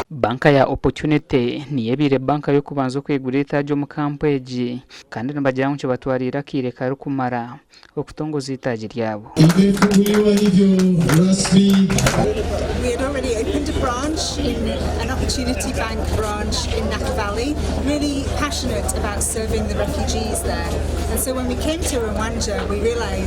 Banka ya Opportunity niyo ebaire banka y'okubanza okwigura eitaagi omu kampu egi kandi nibagira ngu kibatwariire akaire karikumara okutongoza eitaagi ryabo.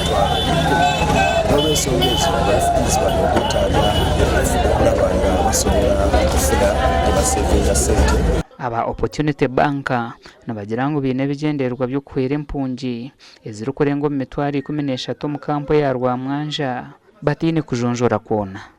Omutwaro ikumi. N'olw'ensonga egyo, abarikwija bari omu bwetaaga bw'okuba nibaabaasa kufuna oku baseevinga sente. Aba Opportunity Bank nibagira ngu baine ebigyendererwa by'okuhwera empungi ezirikurenga omu mitwaro ikumi n'eshatu omu kampu eya Rwamwanja bataine kujonjora kwona.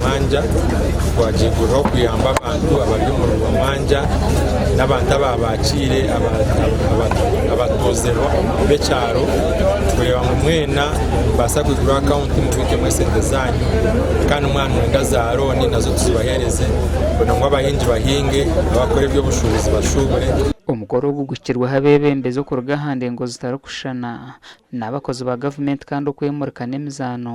Mwanja gwagyeguriraho kuyamba abantu abari omu rugo mwanja n'abantu abaaba baakiire abatuuze b'ekyaro kureeba ngu mwena nimubaasa kwiguraho akawunti mubiikemu esente zaanyu kandi mwanyenda zaarooni nazo tuzibaheereze kugira ngu abahingi bahinge abakora eby'obushuubuzi bashuubure. Omukoro ogu guhikirweho abeebembezi okuruga aha ndengo zitarikushushana n'abakozi ba gavumenti kandi okwemurika n'emizaano.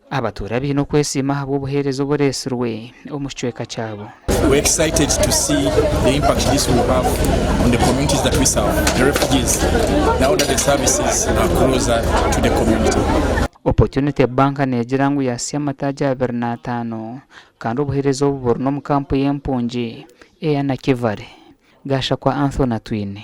Abatuura baine okwesiima ahabw'obuheereza obu oreetsirwe omu kicweka kyabo. Opportunity Bank neegira ngu yaatsya amataagi abiri n'ataano kandi obuheereza obu buri n'omu kampu y'empungi eya Nakivale, Gashakwa Anthony Atwine.